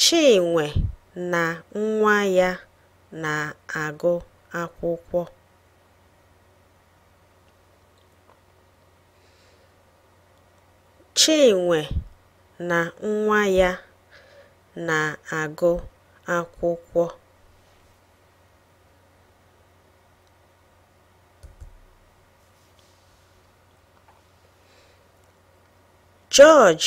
Chinwe na nwa ya na-agụ akwụkwọ. Chinwe na nwa ya na-agụ akwụkwọ. George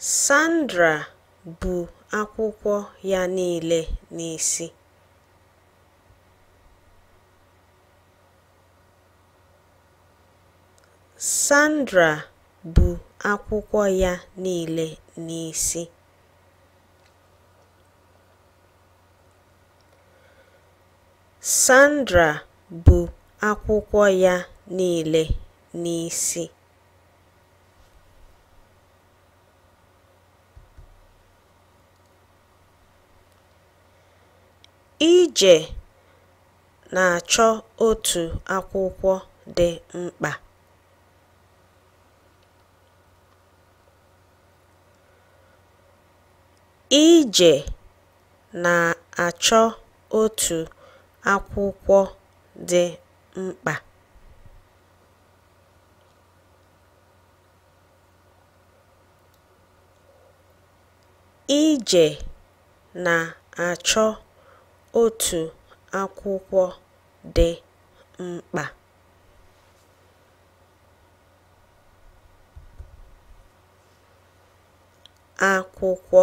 Sandra bu akwụkwọ ya niile n'isi. Sandra bu akwụkwọ ya niile n'isi. Sandra bu akwụkwọ ya niile n'isi. Ije na-achọ otu akwụkwọ dị mkpa. Ije na-achọ otu akwụkwọ dị mkpa. Ije na-achọ otu akwụkwọ dị mkpa. akwụkwọ